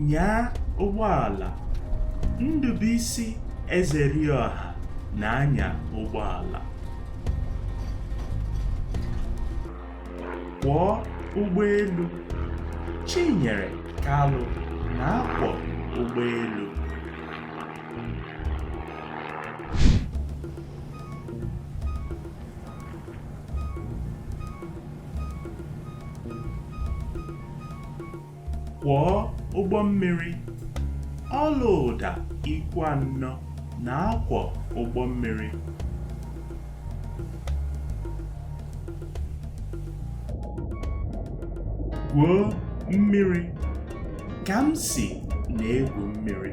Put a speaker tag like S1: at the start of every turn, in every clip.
S1: nyaa ụgbọala Ndụbuisi Ezeriọha na-anya ụgbọala kwọọ ụgbọelu Chinyere Kalụ na-akwọ ụgbọelu Kwọọ ụgbọ mmiri. Ọlaụda Ikwuanọ na-akwọ ụgbọ mmiri. Gwuo mmiri. Kamsi na-egwu mmiri.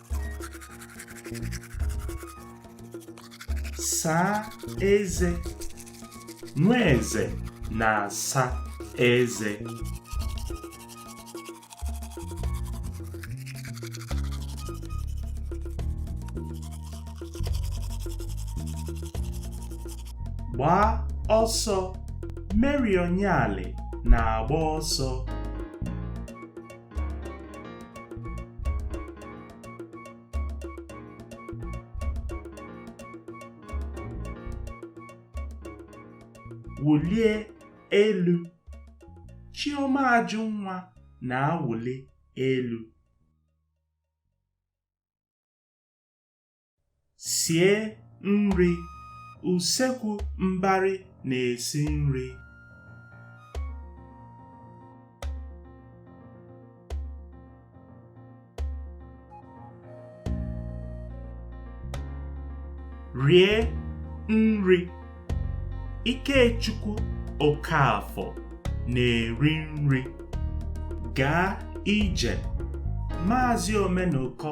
S1: saa eze Nweze na-asa eze gbaa ọsọ Mary Onyali na-agba ọsọ wụlie elu Chiọma Ajụnwa na-awụli elu sie nri Usekwu Mbari na-esi nri rie nri Ikechukwu Okafọ na-eri nri gaa ije Maazị Omenụkọ